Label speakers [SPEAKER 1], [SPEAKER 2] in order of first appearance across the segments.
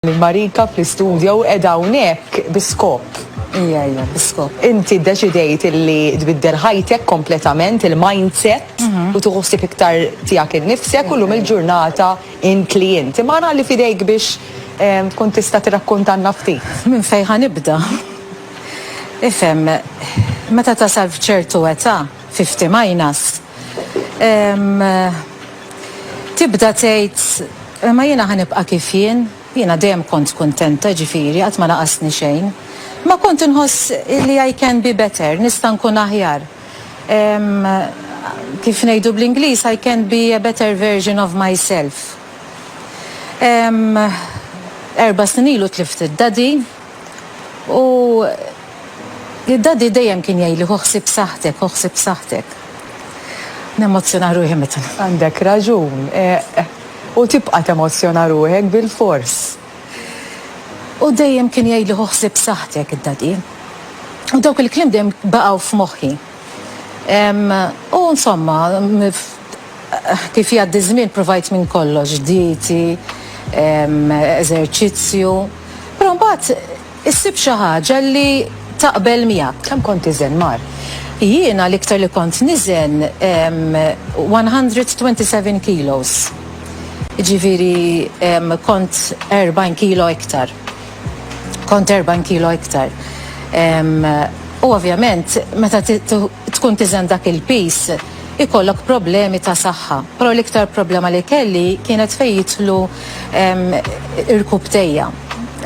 [SPEAKER 1] Marika fl-istudjo u qiegħda hawnhekk bi skop. Ija, ija, bi
[SPEAKER 2] skop. Inti ddeċidejt
[SPEAKER 1] illi tbiddel ħajtek kompletament, il-mindset, mhm. u tuħu ħsieb iktar tiegħek innifsek u llum il-ġurnata in klient. Imma għana li fidejk biex ehm, tkun tista' tirrakkuntanna ftit. Minn fejn ħanibda.
[SPEAKER 2] Ifhem, meta tasal f'ċertu età, 50 minus, ehm, tibda tgħid Imma jiena ħa nibqa' kif jien. Jiena dejjem kont kuntenta, jiġifieri, qatt ma naqasni xejn. Imma kont inħoss li I can be better, nista' nkun aħjar. Ehm, kif ngħidu bl-Ingliż, I can be a better version of myself. Ehm, erba' snin ilu tlift id-Daddy. U id-daddy dejjem kien jgħidli ħu ħsieb saħħtek, ħu ħsieb saħħtek. Nemozzjona ruħi meta. Għandek raġun.
[SPEAKER 1] U tibqa' temozzjona ruħek bilfors. U dejjem kien
[SPEAKER 2] jgħidli ħu ħsieb saħħtek id-daddy. U dawk il-kliem dejjem baqgħu f'moħħi. U insomma, kif jgħaddi ż-żmien provajt minn kollox, dieti, eżerċizzju. Però mbagħad issib xi ħaġa li taqbel miegħek. Kemm kont iżen, mar?
[SPEAKER 1] Jiena l-iktar
[SPEAKER 2] li kont niżen 127 kilos. Jiġifieri kont 40 kilo iktar. Kont 40 kilo iktar. U ovvjament meta tkun tiżen dak il-piż ikollok problemi ta' saħħa. Però l-iktar problema li kelli kienet fejn jidħlu Irkub tejja.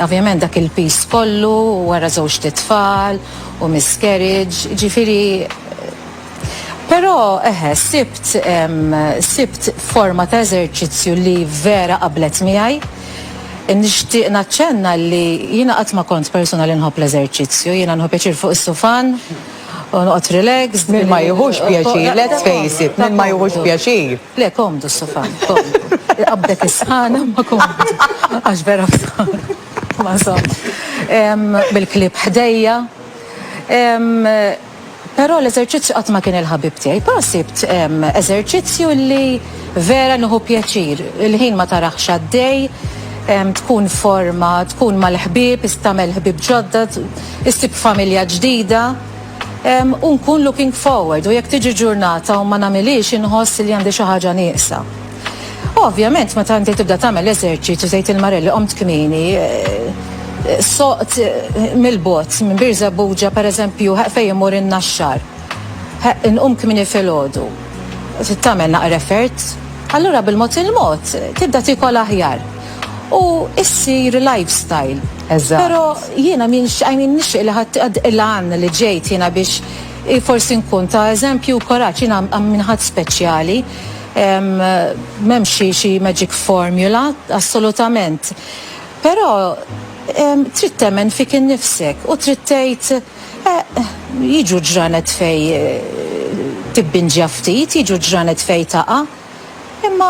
[SPEAKER 2] Ovvjament dak il-piż kollu wara żewġ t-tfal u miscarriage, ġifieri Però eħe sibt sibt forma ta' eżerċizzju li vera qablet miegħi. Nixtieq naċċenna li jiena qatt ma kont persuna li nħobb l-eżerċizzju, jiena nieħu pjaċir fuq is-sufan, Noqgħod relax, min ma jieħux pjaċir,
[SPEAKER 1] let's face it, min ma jieħux pjaċir. Le, komdu s-sofan,
[SPEAKER 2] komdu. Qabdek is-sħana ma komdu. Għax vera ma som. Bil-klib ħdejja. Però l-eżerċizzju qatt ma kien il-ħabib tiegħi. Pa sibt eżerċizzju li vera nuħu pjaċir. Il-ħin ma taraħx għaddej, tkun forma, tkun mal-ħbib, istamel ħbib ġodda, Issib familja ġdida u nkun looking forward u jekk tiġi ġurnata u ma nagħmilhiex inħoss li għandi xi ħaġa nieqsa. Ovvjament meta inti tibda tagħmel l-eżerċizzju tgħid il-Marelli qomt kmieni, soqt mill-bogħod minn Birżebbuġa pereżempju ħa fejn imur in-Naxxar, ħa inqum kmieni filgħodu, tagħmel naqra effort, allura bil-mod il-mod tibda tiekol aħjar. u issir lifestyle. Eżatt. Però
[SPEAKER 1] jiena
[SPEAKER 2] m'ienx I mean nixtieq li ħadd għad il-għan li ġejt jiena biex forsi nkun ta' eżempju u kuraġġ. Jiena I'm minn ħadd speċjali. M'hemmx xi xi magic formula assolutament. Però trid temmen fik innifsek u trid tgħid eh jiġu ġranet fejn tibbinġja ftit, jiġu ġranet fejn taqa'. Imma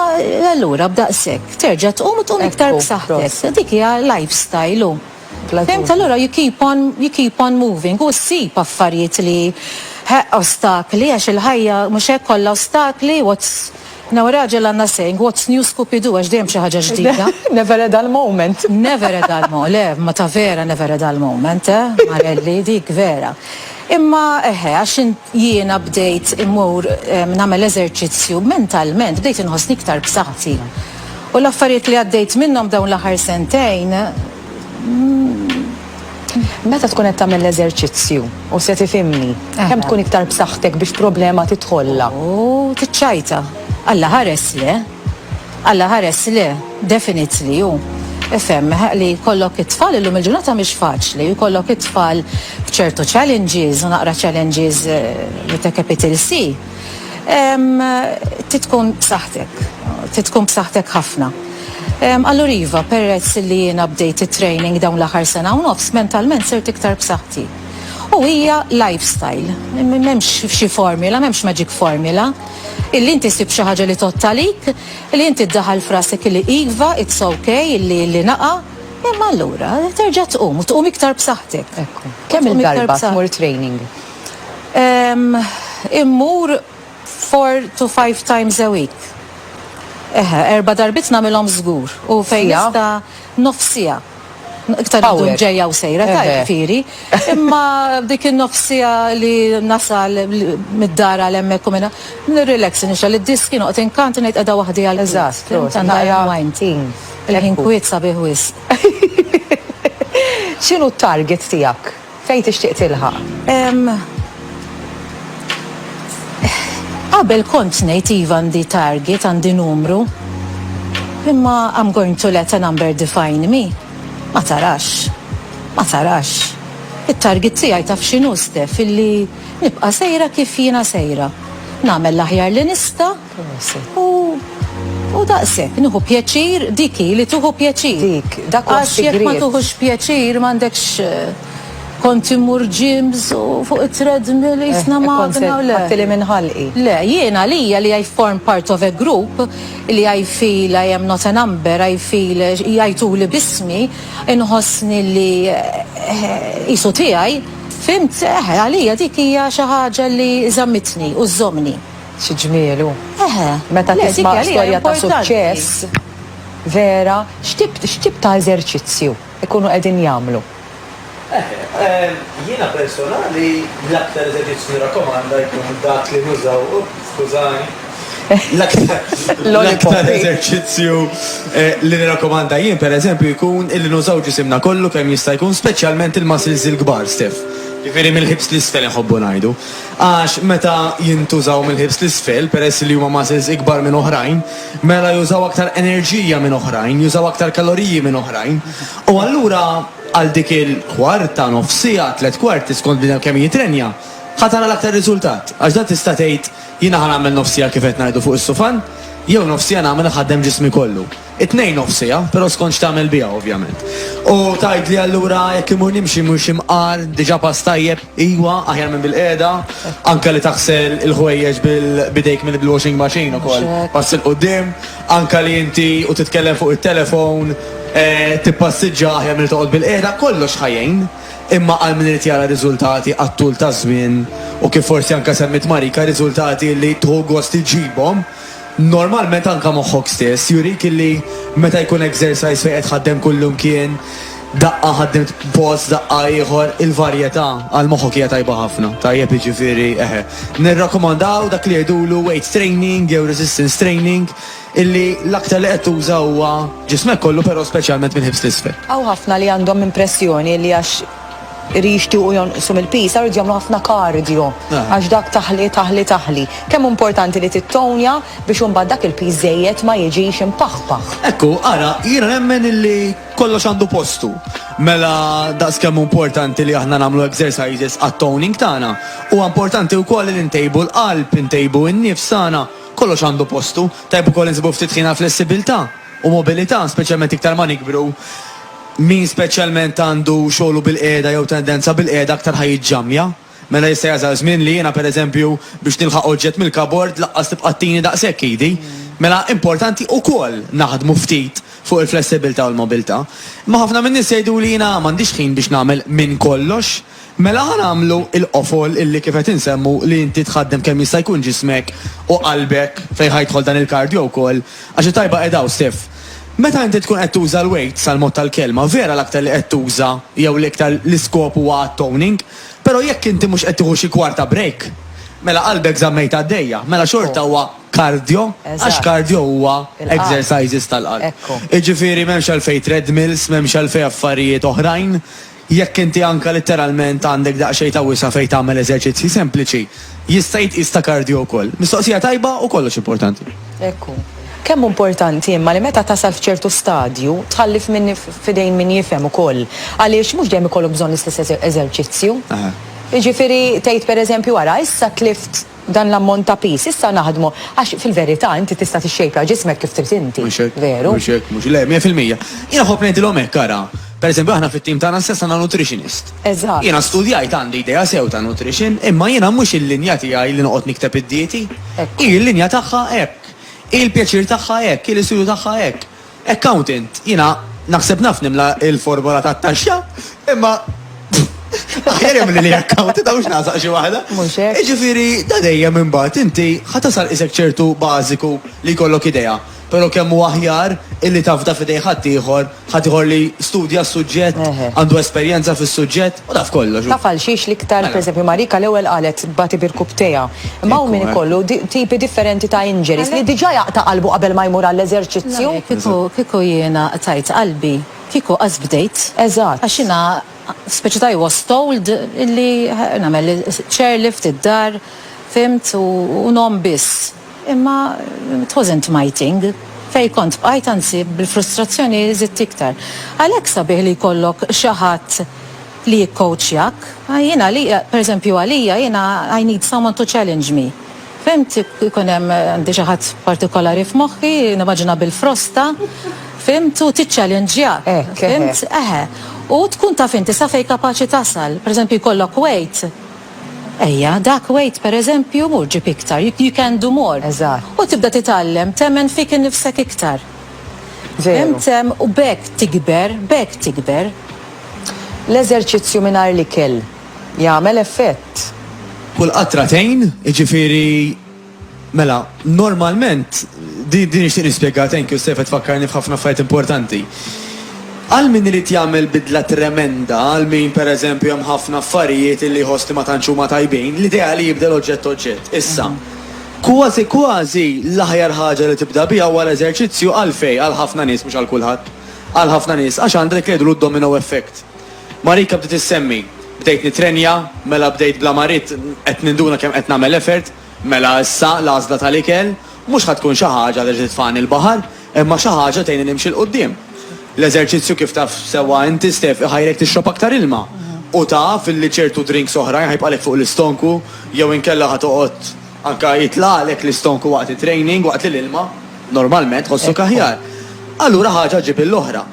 [SPEAKER 2] allura b'daqshekk terġa' tqum u tqum iktar b'saħħtek. Dik hija lifestyle hu. Fimt? Allura you keep on, you keep on moving u ssib affarijiet li ħeqq ostakli għax il-ħajja mhux hekk kollha ostakli, what's, you know, ir-raġel għandna saying, what's new scoopidu għax dejjem xi ħaġa ġdida. Never a dull
[SPEAKER 1] moment. Never a dull moment,
[SPEAKER 2] le, ma ta' vera never a dull moment, eh, Marelli, dik vera. Imma, eħe, għax int, Jiena bdejt immur nagħmel eżerċizzju mentalment, bdejt inħossni iktar b'saħħti. U l-affarijiet li għaddejt minnhom dawn l-aħħar sentejn.
[SPEAKER 1] Meta tkun qed tagħmel l-eżerċizzju u se tifhimni, kemm tkun iktar b'saħħtek biex problema tidħollha? Ooh, tiċċajta.
[SPEAKER 2] Alla ħares le! Alla ħares le, definitely hu ifhem li jkollok it-tfal illum il-ġurnata mhix faċli, jkollok it-tfal b'ċertu challenges u naqra challenges with a capital C. Ehm, trid tkun b'saħħtek, trid tkun b'saħħtek ħafna. Ehm, allura iva, perezz li jiena bdejt it-training dawn l-aħħar sena u nofs, mentalment sirt iktar b'saħħti. U hija lifestyle, m'hemmx xi formula, m'hemmx magic formula. Illi inti ssib xi ħaġa li tgħodd għalik, li inti ddaħħal f'rasek illi iva, it's ok, illi illi naqa', imma allura terġa' tqum u tqum iktar b'saħħtek. Ekku. Kemm il-darba
[SPEAKER 1] tmur training? Ehm,
[SPEAKER 2] immur four to five times a week. Eħe, erba' darbit nagħmilhom żgur u fejn nista' nofsija. Iktar id-dum ġejja u
[SPEAKER 1] sejra, tajb
[SPEAKER 2] firi.
[SPEAKER 1] Imma
[SPEAKER 2] dik in-nofsija li nasal mid-dar għal hemmhekk u minn hemm, nirrilex nixgħel id-diski, noqgħod inkant u ngħid qiegħda waħdi għal ħin. Eżatt, proset. Tant għajja
[SPEAKER 1] mind.
[SPEAKER 2] Il-ħin kwiet sabiħ wisq.
[SPEAKER 1] X'inhu t-target tiegħek? Fejn tixtieq tilħaq? Ehm.
[SPEAKER 2] Qabel kont ngħid iva għandi target, għandi numru. Imma I'm going to let a number define me. Ma tarax. Ma tarax. It-target tiegħi taf x'inhu Steph, illi nibqa' sejra kif jiena sejra. Nagħmel l-aħjar li nista' U u daqshekk nieħu pjaċir, dik hi li tieħu pjaċir. Dik, dak huwa s-sigriet. Għax
[SPEAKER 1] jekk ma tuħux
[SPEAKER 2] pjaċir m'għandekx kont immur ġims u fuq it-treadmill eh, jisna magna u le. Għattili minn ħalqi.
[SPEAKER 1] Le, jiena
[SPEAKER 2] lija li I form part of a group li I feel I am not a number, I feel jajtu li bismi, inħossni li jisu eh, tijaj, fimt, eh, għalija dik hija xi ħaġa li zamitni u żomni. Xi ġmiel
[SPEAKER 1] hu. Eħe. Meta Le,
[SPEAKER 2] dik tisma' hija li hija
[SPEAKER 1] storja ta' importanti.
[SPEAKER 2] suċċess
[SPEAKER 1] vera, x'tip x'tip ta' eżerċizzju jkunu qegħdin jagħmlu? Eħe. Ehm,
[SPEAKER 3] jiena personali l-aktar eżerċizzju nirrakkomanda jkun dak li nużaw, up, skużani, l-aktar Lollipop, l-aktar hi. eżerċizzju eh, li nirrakkomanda jien pereżempju jkun illi nużaw ġisimna kollu kemm jista' jkun, speċjalment il-muscles il-kbar, Steph. Jiġifieri mill-hips 'l isfel inħobbu ngħidu. Għax meta jintużaw mill-hips t'isfel, peress li huma muscles ikbar minn oħrajn, mela jużaw aktar enerġija minn oħrajn, jużaw aktar kaloriji minn oħrajn. U allura għal dik il-kwarta, nofs siegħa, tliet kwarti, skont bniedem kemm jitrenja, ħa tara l-aktar riżultat. Għax dan tista' tgħid, jiena ħa nagħmel nofs siegħa kif qed ngħidu fuq is-sufan, jew nofs siegħa nagħmel iħaddem ġismi kollu. It-tnejn nofsija, però skont x'tagħmel biha ovvjament. U tgħidli allura jekk imur nimxi mhux imqar, diġà pass tajjeb, iwa, aħjar minn bil-qiegħda, anke li taħsel il-ħwejjeġ b'idejk minn bil-washing machine ukoll pass 'il quddiem, anke li inti u titkellem fuq it-telefown, tippassiġġa aħjar milli toqgħod bil-qiegħda, kollox ħa jgħin. Imma għal min irid jara riżultati għat-tul taż-żmien, u kif forsi anke semmiet Marika, riżultati li tħu gost iġġibhom, Normalment anke moħħok stess jurik illi meta jkun exercise fejn qed tħaddem kullimkien, daqqa ħaddimt post, daqqa ieħor, il-varjetà għal moħħok hija tajba ħafna. Tajjeb jiġifieri eħe. Nirrakkomandaw dak li jgħidulu weight training jew resistance training illi l-aktar li qed tuża huwa ġismek kollu però speċjalment mill-hips 'l isfel. Hawn ħafna li għandhom
[SPEAKER 1] impressjoni li għax li jixtiequ jonqsu mill-pis, għarridu jagħmlu ħafna kardjo, għax dak taħli, taħli, taħli. Kemm importanti li tittownja biex imbagħad dak il-pis żejjed ma jiġix impaħpaħ. Ekku, ara,
[SPEAKER 3] jiena nemmen illi kollox għandu postu. Mela daqskemm hu importanti li aħna nagħmlu exercises għat-toning tagħna, huwa importanti wkoll li ntejbu l-qalb, intejbu n-nifs tagħna, kollox għandu postu. Tajjeb ukoll insibu ftit ħin għall-flessibilità u mobilità, speċjalment iktar ma nikbru. Min speċjalment għandu xogħlu bil-qiegħda jew tendenza bil-qiegħda aktar ħa jiġġammja. Mela jista' jasal żmien li jiena, pereżempju, biex nilħaq oġġett mill-kabord lanqas tibqa' ttini daqshekk idi. Mela importanti ukoll naħdmu ftit fuq il-flessibilità u l-mobilità. Imma ħafna min-nies jgħiduli jiena m'għandix ħin biex nagħmel minn kollox. Mela ħa nagħmlu l-qofol illi kif qed insemmu li inti tħaddem kemm jista' jkun ġismek u qalbek, fejn ħa jidħol dan il-kardio wkoll, għax it-tajba qiegħda hawn Steph. Meta inti tkun qed tuża l-weights għall-mod tal-kelma, vera l-aktar li qed tuża jew l-iktar l-iskop huwa għat-toning, però jekk inti mhux qed tieħu xi kwarta break, mela qalbek żammejtha għaddejja, mela xorta huwa kardio għax kardio huwa exercises tal-qalb. Jiġifieri m'hemmx għalfejn treadmills, m'hemmx għalfejn affarijiet oħrajn. Jekk inti anke litteralment għandek daqsxejn ta' wisa' fejn tagħmel eżerċizzji sempliċi, jista' jitqies ta' kardio wkoll. Mistoqsija tajba u kollox importanti. Hekk hu.
[SPEAKER 1] Kemm hu importanti imma li meta tasal f'ċertu stadju, tħalli f'idejn min jifhem ukoll. Għaliex mhux dejjem ikollok bżonn l-istess eżerċizzju. Jiġifieri tgħid pereżempju ara issa tlift, dan l-ammont ta' piż, issa naħdmu, għax fil-verità inti tista' tixxejpja ġismek kif trid inti, veru? Mhux hekk, mhux hekk, le, mija
[SPEAKER 3] fil-mija. Jiena nħobb ngħidilhom hekk, ara, pereżempju aħna fit-tim tagħna stess għandna nutritionist. Eżatt. Jiena studjajt,
[SPEAKER 1] għandi
[SPEAKER 3] idea sew ta' nutrition, imma jiena mhux il-linja tiegħi li noqgħod nikteb id-dieti. Hi l-linja tagħha hekk. Hi l-pjaċir tagħha hekk, hi l-istudju tagħha hekk. Accountant, jiena naħseb naf nimla il-formola tat-taxxa, imma aħjar jagħmlilha accountant hawn x'nażaq xi waħda. Mhux hekk. Jiġifieri
[SPEAKER 1] da
[SPEAKER 3] dejjem imbagħad inti ħa tasal qisek
[SPEAKER 1] ċertu
[SPEAKER 3] bażiku li jkollok idea, però kemm hu aħjar illi tafda f'idejn ħaddieħor, ħaddieħor li studja s-suġġett, għandu esperjenza fis-suġġett. U taf kollox. Taf għal xiex l-iktar, mela.
[SPEAKER 1] pereżempju, Marika l-ewwel qalet tbati birkubtejha. Imma hawn min ikollu tipi differenti ta' injuries li diġà jaqta' qalbu qabel ma jmur għall-eżerċizzju. Kieku kieku
[SPEAKER 2] jiena qtajt qalbi, kieku qatt bdejt. Eżatt. Għax jiena speċi ta' I was told illi nagħmel chairlift id-dar, fhimt, u ngħomm biss. Imma it wasn't my thing. Fejn kont bqajt anzi bil-frustrazzjoni żidt iktar. Għalhekk sabiħ li jkollok xi ħadd li jikkowċjak. Jien għalija, per eżempju għalija jiena I need someone to challenge me. Fhimt? Ikun hemm għandi xi ħadd partikolari f'moħħi, nimmaġina bil-frosta, fhimt, u tiċċallenġjak. Hekk, eħe. Fhimt? Eħe. U tkun taf inti sa fejn kapaċi tasal. Per eżempju jkollok weight Ejja, dak wait pereżempju, mur ġib iktar, you, you can do more. Eżatt. U tibda
[SPEAKER 1] titgħallem
[SPEAKER 2] temmen fik innifsek iktar. Veru.
[SPEAKER 1] Fhimtem? U b'hekk
[SPEAKER 2] tikber, b'hekk tikber.
[SPEAKER 1] L-eżerċizzju mingħajr l-ikel jagħmel effett. Kull qatra
[SPEAKER 3] tgħin, jiġifieri. Mela, normalment, di, di nixtieq nispjegha, thank you Steph qed tfakkarni f'ħafna affarijiet importanti. Għal min irid jagħmel bidla tremenda, għal min pereżempju hemm ħafna affarijiet illi jħoss li ma tantx huma tajbin, l-idea li jibdel oġġett oġġett. Issa, kważi kważi l-aħjar ħaġa li tibda biha huwa l-eżerċizzju għalfejn għal ħafna nies, mhux għal kulħadd, għal ħafna nies għax għandha dik li jgħidulu d-domino effect. Marika bdiet issemmi, bdejt nittrenja, mela bdejt bla marid, qed ninduna kemm qed nagħmel effort, Mela issa l-għażla tal-ikel mhux ħa tkun xi ħaġa li titfagħni l-baħar, imma xi ħaġa tgħinni nimxi 'l quddiem. L-eżerċizzju kif taf sewwa inti Steph iħajrek tixrob aktar ilma u taf li ċertu drinks oħrajn ħa jibqalek fuq l-istonku jew inkella ħa toqgħod anke jitlagħlek l-istonku waqt it-training waqt li l-ilma normalment tħossok aħjar. Allura ħaġa ġġib l-oħra.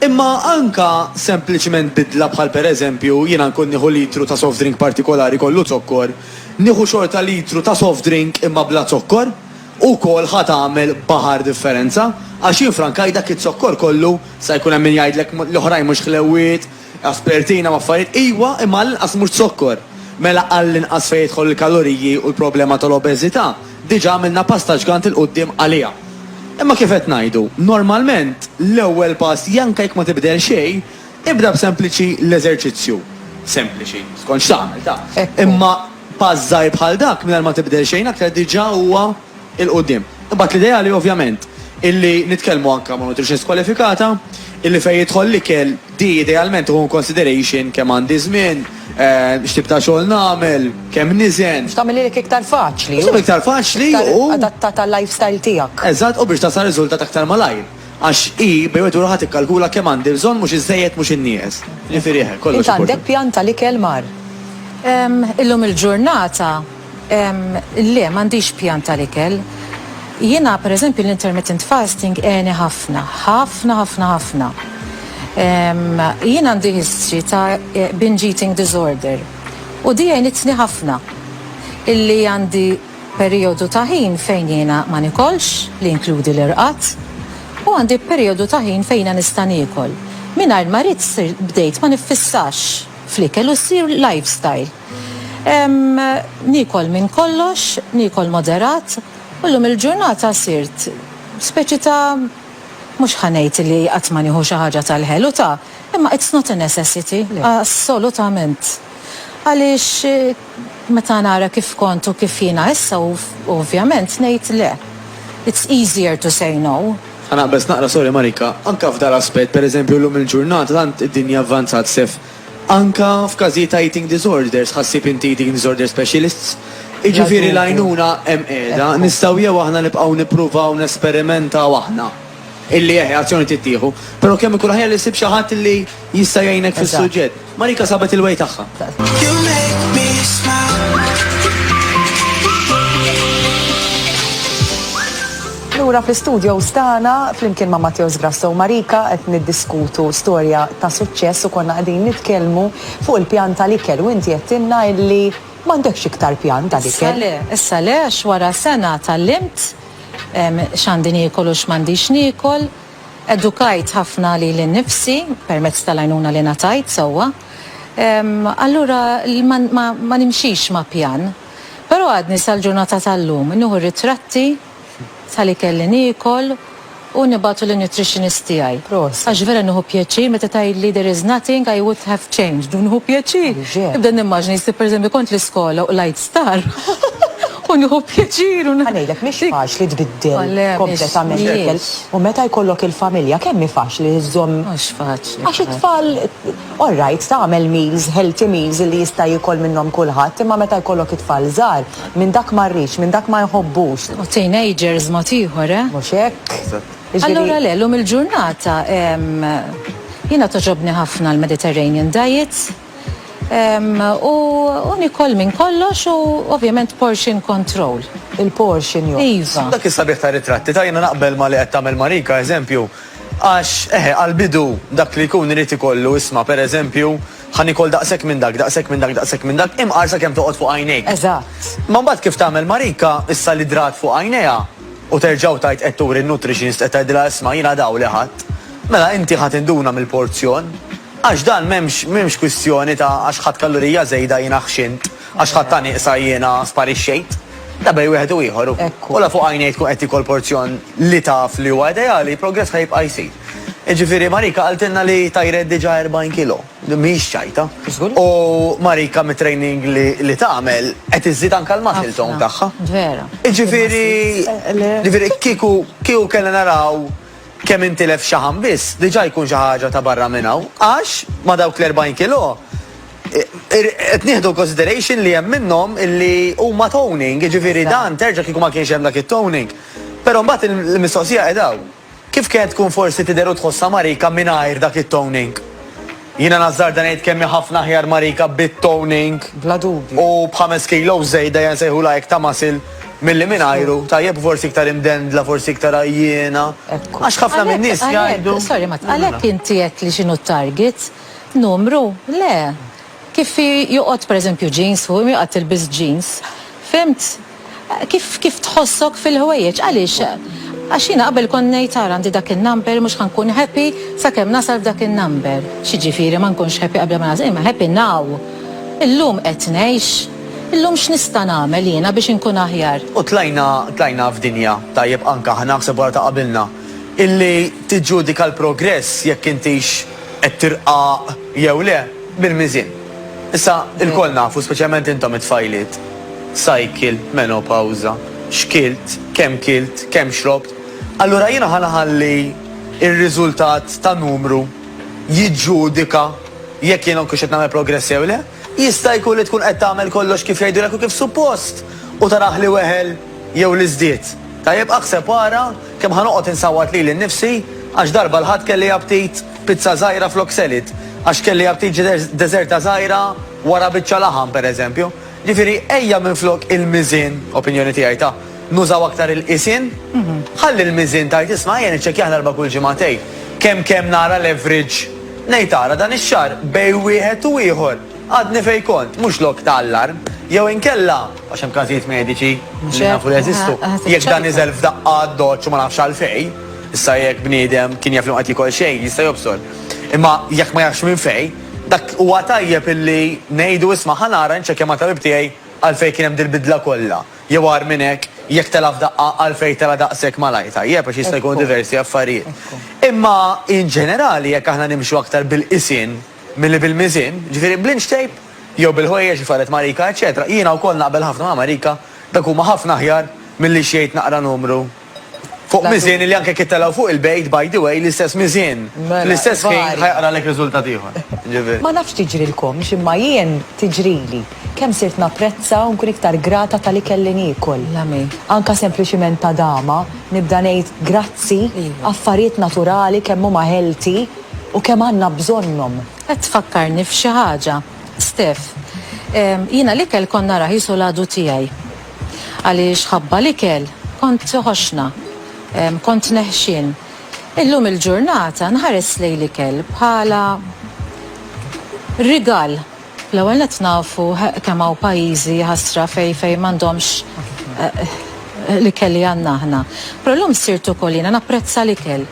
[SPEAKER 3] Imma anke sempliċement bidla bħal pereżempju jiena nkun nieħu litru ta' soft drink partikolari kollu zokkor, Nieħu xorta litru ta' soft drink imma bla zokkor, ukoll ħa tagħmel baħar differenza, għax jien frankaj dak iz-zokkor kollu, sa jkun hemm min jgħidlek l-oħrajn mhux ħlewwiet, aspertina u affarijiet, ijwa imma għall-inqas mhux zokkor. Mela għall-inqas fejn jidħol il-kaloriji u l-problema tal-obeżita, diġa għamilna pass ta' ġgant 'il quddiem għaliha. Imma kif qed ngħidu, normalment l-ewwel pass janka jekk ma tibdel xejn, Ibda b'sempliċi l-eżerċizzju. Sempliċi, skont x'tagħmel, taf. Imma pass żgħir bħal dak, mingħajr ma tibdel xejn aktar, diġà huwa 'l quddiem. Imbagħad l-ideali, ovvjament, illi nitkellmu anke ma' nutritionist kwalifikata, illi fejn jidħol l-ikel, di idealment tieħu in consideration kemm għandi żmien, x'tip ta' xogħol nagħmel, kemm niżen. Biex tagħmilhielek iktar
[SPEAKER 1] faċli. Biex tagħmilha iktar faċli
[SPEAKER 3] u. Iktar adattata għal-lifestyle
[SPEAKER 1] tiegħek. Eżatt, u biex tasal
[SPEAKER 3] riżultat aktar malajr. Għax hi bejn wieħed u ieħor tikkalkula kemm għandi bżonn mhux iżżejjed mhux innieqes. Jiġifieri eħe, kollox importanti. Int għandek pjan tal-ikel
[SPEAKER 1] mar? Ehm,
[SPEAKER 2] illum il-ġurnata, ehm, le, m'għandix pjan tal-ikel. Jiena, per eżempju, l-intermittent fasting għeni ħafna, ħafna, ħafna, ħafna. Ehm, jien għandi history ta' binge eating disorder u di għenitni ħafna illi għandi Perijodu ta' ħin fejn jiena ma nikolx, li jinkludi l-irqad, u għandi perijodu ta' ħin fejn jiena nista' niekol. Mingħajr ma ridt bdejt ma niffissax fl-ikel u ssir lifestyle. Niekol minn kollox, niekol moderat u llum il-ġurnata sirt speċi ta' mhux ħa ngħid li qatt ma nieħu xi ħaġa tal-ħelu ta' imma it's not a necessity assolutament għaliex Meta nara kif kont u kif jiena issa ovvjament ngħid le. It's easier to say no. Ħa naqbeż naqra sorry
[SPEAKER 3] Marika. Anke f'dan l-aspett, per eżempju llum il-ġurnata tant id-dinja avvanzat Sef. Anke f'każijiet ta' eating disorders ħa ssib inti eating disorder specialists. Jiġifieri l-għajnuna hemm qiegħda. Nistgħu jew aħna nibqgħu nippruvaw nesperimentaw aħna illi eħe azzjoni tittieħu, però kemm ikun aħjar li ssib xi ħadd illi jista' jgħinek fis-suġġett. Marika sabet il-way
[SPEAKER 1] tagħha. Lura fl-istudios tagħna flimkien ma' Matteos Grasso u Marika qed niddiskutu storja ta' suċċess u konna qegħdin nitkellmu fuq il-pjan tal-ikel u inti għedtilna illi m'għandekx iktar pjan tal-ikel. Issa le, issa le għax
[SPEAKER 2] wara sena tgħallimt x'għandi niekol u x'm'għandix niekol. Edukajt ħafna lili nnifsi permezz tal-għajnuna li ngħatajt sewwa. Allura ma nimxix ma' pjan. Però għadni sal-ġurnata tal-lum nieħu r-ritratti ta' li kelli niekol u nibgħatu lin-nutritionist tiegħi. Għax vera nieħu
[SPEAKER 1] pjaċir
[SPEAKER 2] meta tgħidli there is nothing I would have changed. Nieħu pjaċir. Nibda nimmaġina
[SPEAKER 1] jisib
[SPEAKER 2] pereżempju kont l-iskola u l-għid star. U nieħu pjaċir u. Ħa ngħidlek, mhix faċli
[SPEAKER 1] tbiddel kompletament
[SPEAKER 2] l-ikel.
[SPEAKER 1] U meta
[SPEAKER 2] jkollok
[SPEAKER 1] il-familja, kemm hi faċli li żżomm. Mhux faċli. Għax
[SPEAKER 2] it-tfal,
[SPEAKER 1] all right, tagħmel meals, healthy meals li jista' jiekol minnhom kulħadd, imma meta jkollok it-tfal żgħar, minn dak ma rridx, minn dak ma jħobbux. U teenagers
[SPEAKER 2] mod ieħor, eh? Mhux hekk?
[SPEAKER 1] Eżatt. Allura le, llum
[SPEAKER 2] il-ġurnata, jiena togħġobni ħafna l-Mediterranean diet. U nikol minn kollox u ovvjament portion control. Il-portion jo.
[SPEAKER 1] Iva. Dak is-sabiħ ta'
[SPEAKER 2] ritratti
[SPEAKER 3] ta' jiena naqbel ma' li qed tagħmel Marika, eżempju, għax eħe għall-bidu dak li jkun irid ikollu isma' per eżempju ħa nikol daqshekk minn dak, daqshekk minn dak, daqshekk minn dak, imqar sakemm toqgħod fuq għajnejk. Eżatt. Imma mbagħad
[SPEAKER 1] kif tagħmel
[SPEAKER 3] Marika, issa li drat fuq għajnejha u terġgħu tgħid qed turi n-nutritionist qed tgħidilha isma' jiena dawl li ħadt. Mela inti ħa tinduna mill-porzjon. Għax dan m'hemmx m'hemmx kwistjoni ta' għax ħadt kallurija żejda jiena ħxint, għax ħadtha nieqsa jiena sparixxejt. Da bejn wieħed u ieħor u u la fuq għajnejk tkun
[SPEAKER 1] qed
[SPEAKER 3] tiekol porzjon li taf li huwa ideali, progress ħa jibqa' jsir. Jiġifieri Marika qaltilna li tajret diġà 40 kilo. Mhix ċajta. U
[SPEAKER 1] Marika
[SPEAKER 3] mit-training li li tagħmel qed iżżid anke l-muscle tone tagħha. Jiġifieri
[SPEAKER 2] jiġifieri
[SPEAKER 3] kieku kieku kellna naraw Kemm intilef xaħam biss diġà jkun xi ħaġa ta' barra minn hawn għax ma' dawk l-40 kilo qed nieħdu in consideration li hemm minnhom illi huma toning, jiġifieri dan terġa' kieku ma kienx hemm dak it-toning. Però mbagħad il-mistoqsija qiegħda hawn. Kif kien tkun forsi tidher u tħossha Marika mingħajr dak it-toning? Jiena nazzarda ngħid kemm hi ħafna aħjar Marika bit-toning. Bla dubju. U
[SPEAKER 1] b'ħames kilos
[SPEAKER 3] żejda jew nsejħulha hekk ta' muscle milli mingħajru, tajjeb u forsi iktar imdendla, forsi iktar għajjiena. Ekku. Għax ħafna
[SPEAKER 1] min-nies jgħidu.
[SPEAKER 3] Għalhekk, għalhekk, sorry Matt, għalhekk
[SPEAKER 2] inti għedtli x'inhu t-target? Numru? Le. Kif hi joqgħod pereżempju jeans fuq, imma joqgħod tilbes jeans. Fhimt? Kif tħossok fil-ħwejjeġ? Għaliex? Għax jiena qabel kont ngħid ara għandi dak in-number mhux ħa nkun happy sakemm nasal f'dak in-number. X'jiġifieri ma nkunx happy qabel ma nasal? Imma happy now. Illum qed ngħix. Illum x'nista' nagħmel jiena biex inkun aħjar? U tlajna,
[SPEAKER 3] tlajna f'dinja, tajjeb anke aħna, aħseb wara ta' qabilna, illi tiġġudika l-progress jekk intix qed tirqaq jew le, bil-miżien. Issa, ilkoll nafu, speċjalment intom it-tfajliet, x'ajkilt, menopawża, x'kilt, kemm kilt, kemm xrobt. Allura jiena ħa nħalli r-riżultat ta' numru jiġġudika jekk jiena nkunx qed nagħmel progress jew le? Jista' jkun li tkun qed tagħmel kollox kif jgħidulek u kif suppost u taraħ li weħel jew li żdied. Tajjeb, aħseb u ara. Kemm ħa noqgħod insawwat lili nnifsi għax darba 'l Ħadd kelli aptit pizza żgħira flok salad, għax kelli aptit deżerta żgħira wara biċċa laħam, pereżempju. Ġifieri, ejja minflok il-miżien, opinjoni tiegħi ta', nużaw aktar il-qisien. Ħalli l-miżien tgħid isma' ejja niċċekkjah darba kull ġimagħtejn. Kemm kemm nara l-average. Ngħid ara dan ix-xahar bejn wieħed u ieħor għadni fejn kont, mhux lok ta' allarm. Jew inkella. Għax hemm każijiet mediċi li nafu li jeżistu. Jekk dan niżel f'daqqa għad-doċċ u ma nafx għalfejn, issa jekk bniedem kien jaf li ma qed jiekol xejn jista' jobsor. Imma jekk ma jafx minn fejn, dak huwa tajjeb illi ngħidu isma' ħa nara nċekkja mat-tabib tiegħi għalfejn kien hemm dil-bidla kollha. Jew agħar minn hekk, jekk tela' f'daqqa għalfejn tela' daqshekk malajr tajjeb għax jista' jkunu diversi affarijiet. Imma in ġenerali jekk aħna nimxu aktar bil-qisien, Milli bil-miżien, jiġifieri bl-inch tape, jew bil-ħwejjeġ li farret Marika, eċċetera Jiena wkoll naqbel ħafna ma' Marika, dak huma ħafna aħjar milli x'jgħid naqra numru fuq miżien li anke jekk jittelgħu fuq il-bejt, by the way, l-istess miżien fl-istess ħin ħa jaqralek riżultat ieħor. Jiġifieri. Ma nafx tiġrilkomx
[SPEAKER 1] imma jien tiġrili. Kemm sirt napprezza u nkun iktar grata tal-ikel li niekol. Anke
[SPEAKER 2] sempliċiment
[SPEAKER 1] tadama, nibda ngħid grazzi, affarijiet naturali kemm huma healthy, U kemm għandna bżonnhom! Qed tfakkarni
[SPEAKER 2] f'xi ħaġa, Steph. Jiena l-ikel kont narah qisu l-għadu tiegħi. Għaliex ħabba l-ikel kont ħoxna. Kont neħxien. Illum il-ġurnata nħares lejn l-ikel bħala rigal. L-ewwel nett nafu kemm hawn pajjiżi, jaħasra, fejn fejn m'għandhomx l-ikel li għandna aħna. Però llum sirt ukoll jiena napprezza l-ikel.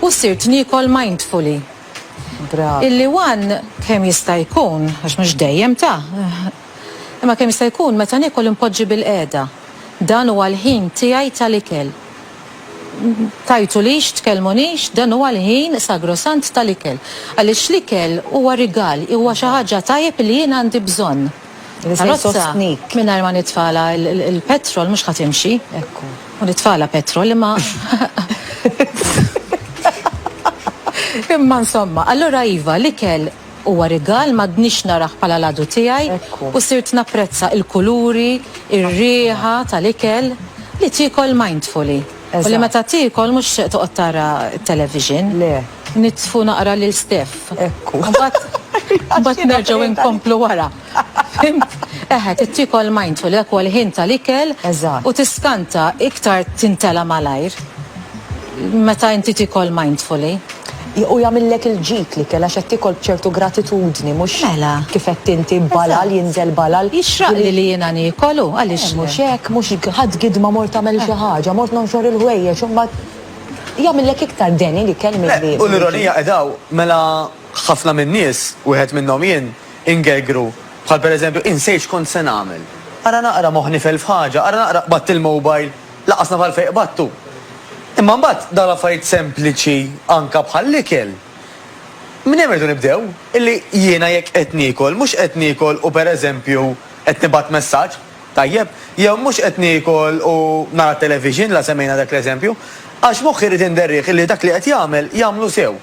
[SPEAKER 2] U sirt niekol mindfully.
[SPEAKER 1] Illi one
[SPEAKER 2] kemm jista' jkun, għax mhux dejjem ta', imma kemm jista' jkun meta niekol inpoġġi bilqiegħda. Dan huwa l-ħin tiegħi tal-ikel. tgħajtulix, tkellmunix, dan huwa l-ħin sagrosant tal-ikel. Għaliex l-ikel huwa rigal, huwa xi ħaġa tajjeb li jien għandi bżonn. Karozza
[SPEAKER 1] mingħajr ma nitfagħlha
[SPEAKER 2] l-petrol mhux ħa timxi. Ekku. U
[SPEAKER 1] nitfagħlha
[SPEAKER 2] petrol imma Imma insomma, allura iva, l-ikel, Huwa rigal m'għadnix narah bħala l-għadu tiegħi u sirt
[SPEAKER 1] napprezza
[SPEAKER 2] il-kuluri, ir-riħa tal-ikel li tiekol mindfully u li meta tiekol mhux
[SPEAKER 1] tixtieq
[SPEAKER 2] toqgħod tara t-television.
[SPEAKER 1] Nitfu naqra
[SPEAKER 2] lil Steph
[SPEAKER 1] u mbagħad
[SPEAKER 2] nerġgħu nkomplu wara. Fimt? Eħe, tittiekol mindful, dak huwa l-ħin tal-ikel. Eżatt. U tiskanta, iktar tintela' malajr meta inti tiekol mindfully. U jagħmillek
[SPEAKER 1] il-ġid l-ikel għax qed tiekol b'ċertu gratitudni mhux Mela. kif għedt inti balal jinżel balal. Jixraqli li jiena
[SPEAKER 2] niekol u għaliex le. Mhux hekk, mhux
[SPEAKER 1] ħadt gidma mort tagħmel xi ħaġa, mort nonxor il-ħwejjeġ u mbagħad jagħmillek iktar deni l-ikel milli. Le, u l-ironija qiegħda hawn,
[SPEAKER 3] mela ħafna min-nies, wieħed minnhom jien, Ingergru, bħal per eżempju, insejt x'kont se nagħmel. Ara naqra moħħ nifel f'ħaġa, ara naqra qbadt il-mobile, lanqas naf għalfejn qbadtu. Imma mbagħad dawn l-affarijiet sempliċi anke bħall-ikel. Minn hemm irridu nibdew, illi jiena jekk qed niekol, mhux qed niekol u per eżempju qed nibgħat messaġġ. Tajjeb, jew mhux qed niekol u nara t-television, la semmejna dak l-eżempju, għax moħħi jrid inderrieh illi dak li qed jagħmel, jagħmlu sew,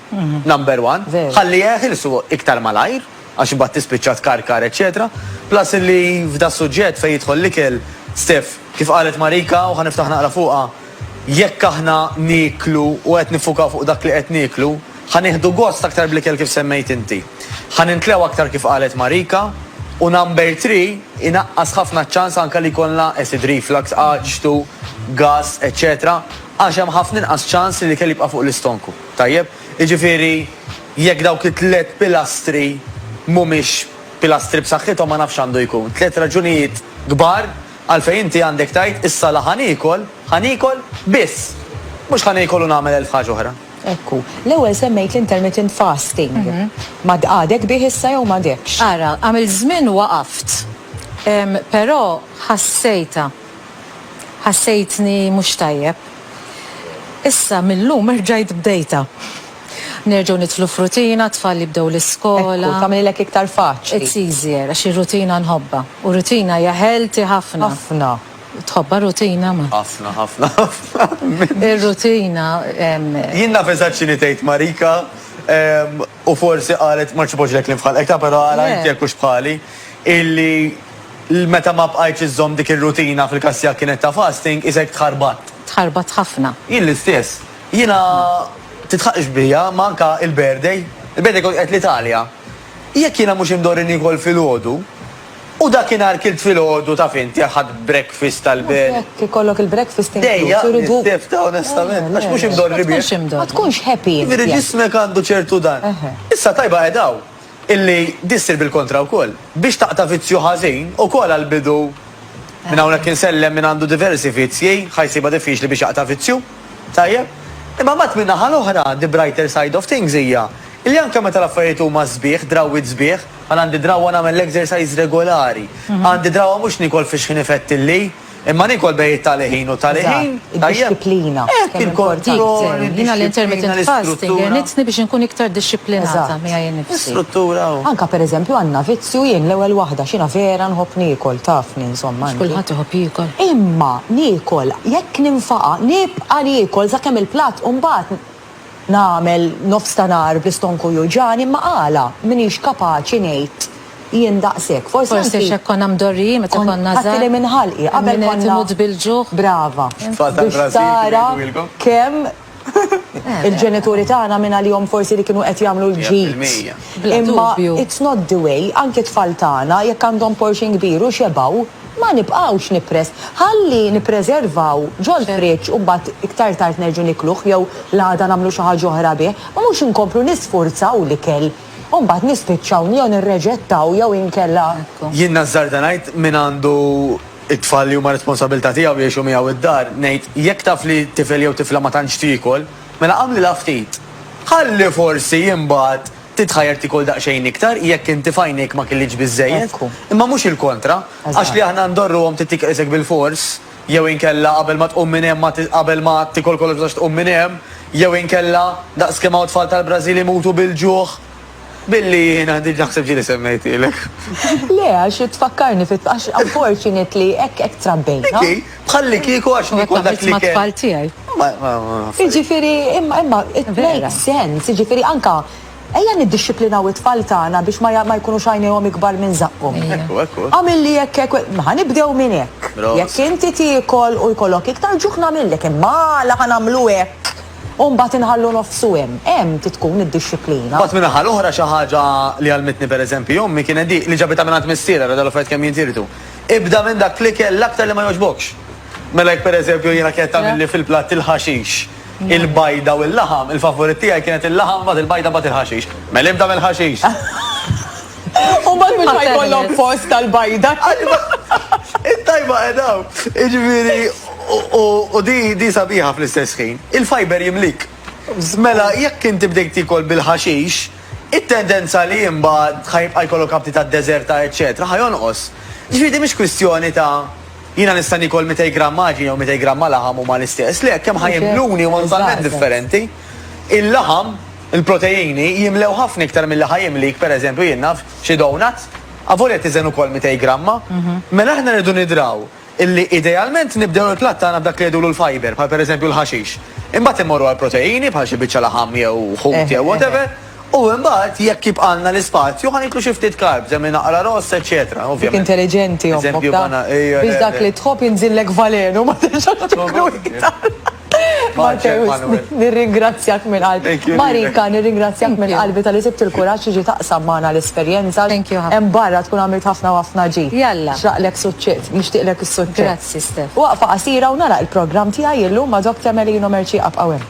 [SPEAKER 3] number one, ħalli jeħilsu iktar malajr, għax imbagħad tispiċċa tkarkar eċċetera, plus illi f'das-suġġett fejn jidħol l-ikel, Steph, kif qalet Marika u ħa niftaħ naqra fuqha, jekk aħna nieklu u qed niffukaw fuq dak li qed nieklu, Ħa nieħdu gost aktar bl-ikel kif semmejt inti. Ħa nimtlew aktar kif qalet Marika. U number three, inaqqas ħafna ċ-ċans anke li jkollna acid reflux, aġtu, gas, eċċetera għax hemm ħafna inqas ċans li l-ikel jibqa' fuq l-istonku. Tajjeb? Jiġifieri jekk dawk it-tliet pilastri mhumiex pilastri b'saħħithom ma nafx x'għandu jkun. Tliet raġunijiet kbar għalfejn inti għandek tgħid issa la ħa niekol, ħa niekol, biss! Mhux ħa niekol u nagħmel elf ħaġa oħra. Hekk hu. L-ewwel
[SPEAKER 1] semmejt l-intermittent fasting. Ma għadek bih issa jew m'għadekx? Ara, għamilt żmien
[SPEAKER 2] waqaft. Però ħassejtha. Ħassejtni mhux tajjeb. Issa mil-lum erġajt bdejtha. Nerġgħu nidħlu f'rutina, t-tfal jibdew l-iskola. Hekk hu, tagħmililek iktar
[SPEAKER 1] faċli. It's easier, għax
[SPEAKER 2] ir-rutina nħobbha. U rutina hija healthy ħafna. Ħafna.
[SPEAKER 1] Tħobbha
[SPEAKER 2] r-rutina ma? Ħafna, ħafna,
[SPEAKER 3] ħafna.
[SPEAKER 2] Ir-rutina.
[SPEAKER 3] Jien naf eżatt x'inhi tgħid Marika u forsi qalet ma ċipoġlek li fħalqek ta' però ara inti jekk hux bħali illi meta ma bqajtx iżżomm dik ir-rutina fil-każ tiegħek kienet ta' fasting isek tħarbatt. Tħarbatt ħafna.
[SPEAKER 2] Jien l-istess.
[SPEAKER 3] Jiena titħaqx bija ma anke il-birthday. Il-birthday kont qed l-Italja. Jekk jiena mhux imdorri niekol filgħodu, U dakinhar kilt filgħodu taf int, ħadt breakfast tal-belt. U hekk ikollok il-breakfast
[SPEAKER 1] inkluż. Dejjaq l-istiff
[SPEAKER 3] ta'
[SPEAKER 1] onestament,
[SPEAKER 3] għax mhux imdorri bih. Ma tkunx imdorri. Ma tkunx happy
[SPEAKER 1] int.
[SPEAKER 2] Jiġifieri
[SPEAKER 1] ġismek għandu
[SPEAKER 3] ċertu dan. Issa tajba qed hawn illi din ssir bil-kontra wkoll. Biex taqta' vizzju ħażin, ukoll għall-bidu, minn hawnhekk insellem min għandu diversi vizzji, ħa jsibha diffiċli biex jaqta' vizzju. Tajjeb? Imma mbagħad min-naħa l-oħra, the brighter side of things hija illi anke meta l-affarijiet huma sbieħ, drawwiet sbieħ, Għal għandi drawwa nagħmel l-exercise regolari. Għandi drawwa mhux niekol fiex ħin ifettilli, imma niekol bejn it-tali ħin u t-tali ħin. Id-dixxiplina.
[SPEAKER 1] Hekk il-kontroll.
[SPEAKER 3] Jiena l-intermittent
[SPEAKER 2] fasting għenitni biex inkun iktar dixxiplinata miegħi nnifsi.
[SPEAKER 1] L-istruttura
[SPEAKER 2] u. Anke
[SPEAKER 3] pereżempju
[SPEAKER 1] għandna vizzju jien l-ewwel waħda x'jiena vera nħobb niekol, tafni insomma. Mhux kulħadd iħobb jiekol.
[SPEAKER 2] Imma
[SPEAKER 1] niekol, jekk ninfaqa' nibqa' niekol sakemm il-platt u mbagħad Nagħmel nofs ta' nhar bl-istonku juġgħani, imma għala m'iniex kapaċi ngħid jien daqshekk. Forsi anki. Forsi x'hekk konna
[SPEAKER 2] mdorrijin meta konna żgħar. Ħadd li minn ħalqi
[SPEAKER 1] qabel
[SPEAKER 2] konna. Min qed
[SPEAKER 1] imut bil-ġuħ.
[SPEAKER 2] Brava. Tfal tal-Brażil
[SPEAKER 1] kif jgħidulkom. Biex
[SPEAKER 3] tara
[SPEAKER 1] kemm il-ġenituri tagħna minn għalihom forsi li kienu qed jagħmlu l-ġid. 100%. Imma
[SPEAKER 3] it's
[SPEAKER 2] not
[SPEAKER 1] the
[SPEAKER 2] way,
[SPEAKER 1] anki t-tfal tagħna jekk għandhom portion kbir u xebgħu, Ma nibqgħux nippress. Ħalli nippreservaw ġol-friġġ u mbagħad iktar tard nerġgħu nikluh jew l-għada nagħmlu xi ħaġa oħra bih, ma mhux inkomplu nisfurzaw l-ikel u mbagħad nispiċċaw jew nirreġettaw jew inkella. Jien nażżarda
[SPEAKER 3] ngħid min għandu t-tfal li huma responsabilità tiegħu jgħixu miegħu d-dar, ngħid jekk taf li tifel jew tifla ma tantx tiekol, mela agħmlilha ftit. Ħalli forsi imbagħad. Titħajjar tiekol daqsxejn iktar jekk inti f'għajnejk ma kellitx biżżejjed, imma mhux il-kontra, għax
[SPEAKER 1] li
[SPEAKER 3] aħna ndorruhom trid tiekol isek bilfors, jew inkella qabel ma tqum minn hemm ma qabel ma tiekol kollox ma tistax tqum minn hemm, jew inkella daqs kemm hawn tfal tal-Brażil imutu bil-ġuħ billi jiena diġà naħseb ġieli semmejtilek. Le,
[SPEAKER 1] għax tfakkarni, għax unfortunately hekk trabbejna. Bħallikieku
[SPEAKER 3] għax nikol dak li kien. tfal tiegħi.
[SPEAKER 2] Jiġifieri
[SPEAKER 1] imma it makes sense, jiġifieri anka ejja niddixxiplinaw it-tfal tagħna biex ma jkunux għajnejhom ikbar minn żaqqhom. Għamil li
[SPEAKER 3] hekk hekk,
[SPEAKER 1] ħa nibdew minn hekk. Jekk inti
[SPEAKER 3] tiekol
[SPEAKER 1] u jkollok iktar ġuħ nagħmillek, imma għala ħa nagħmlu hekk u mbagħad inħallu nofsu hemm. Hemm trid tkun id-dixxiplina. Mbagħad min-naħa l-oħra xi
[SPEAKER 3] ħaġa li għallmitni pereżempju ommi kienet dik li ġabitha mingħand missierha, ara dal-affarijiet kemm jintirdu. Ibda minn dak l-ikel l-aktar li ma jogħġbokx. Mela jekk pereżempju jiena kienet tagħmilli fil-platt il-ħaxix, il-bajda u l-laħam, il-favurit tiegħi kienet il-laħam mbagħad il-bajda mbagħad il-ħaxix. Mela ibda mill-ħaxix.
[SPEAKER 1] U mbagħad mhux ħa jkollok post għall-bajda.
[SPEAKER 3] It-tajba qiegħda hawn. Jiġifieri u di sabiħa fl-istess ħin. Il-fiber jimlik. Mela jekk inti bdejt tiekol bil-ħaxix, it-tendenza li imbagħad ħa jibqa' jkollok abti ta' deżerta eċċetera ħa jonqos. Jiġifieri din mhix kwistjoni ta' jiena nista' niekol mitej gramm għaġin jew mitej gramma laħam huma l-istess, le, kemm ħa jimluni huma totalment differenti. Il-laħam, il-proteini, jimlew ħafna iktar milli ħa jimlik, per eżempju, jien naf, xi donut, avolja tiżen ukoll mitej gramma. Mela aħna rridu nidraw. illi idealment nibdew il-platt tagħna b'dak li jgħidulu l-fibre, bħal pereżempju l-ħaxix. Imbagħad immorru għall-proteini bħal xi biċċa laħam jew ħut jew whatever, u imbagħad jekk jibqgħalna l-ispazju ħa niklu xi ftit carbs, hemm min aqra ross, eċċetera. Dik intelliġenti, ommok,
[SPEAKER 1] taf.
[SPEAKER 3] Biex dak li
[SPEAKER 1] tħobb jinżillek valenu, ma terġax tiklu iktar. Marcel Manuel. Nirringrazzjak minn qalbi. Marika, nirringrazzjak minn qalbi tal-li sibt il-kuraġġ tiġi taqsam magħna l-esperjenza. Thank you. Hemm barra
[SPEAKER 2] tkun għamilt ħafna
[SPEAKER 1] u ħafna ġid. Jalla. Xraqlek
[SPEAKER 2] suċċess,
[SPEAKER 1] nixtieqlek is-suċċess. Grazzi, Steph. Waqfa qasira u nagħlaq il-programm tiegħi illum ma' Dok Temelino Mercieq abqgħu hemm.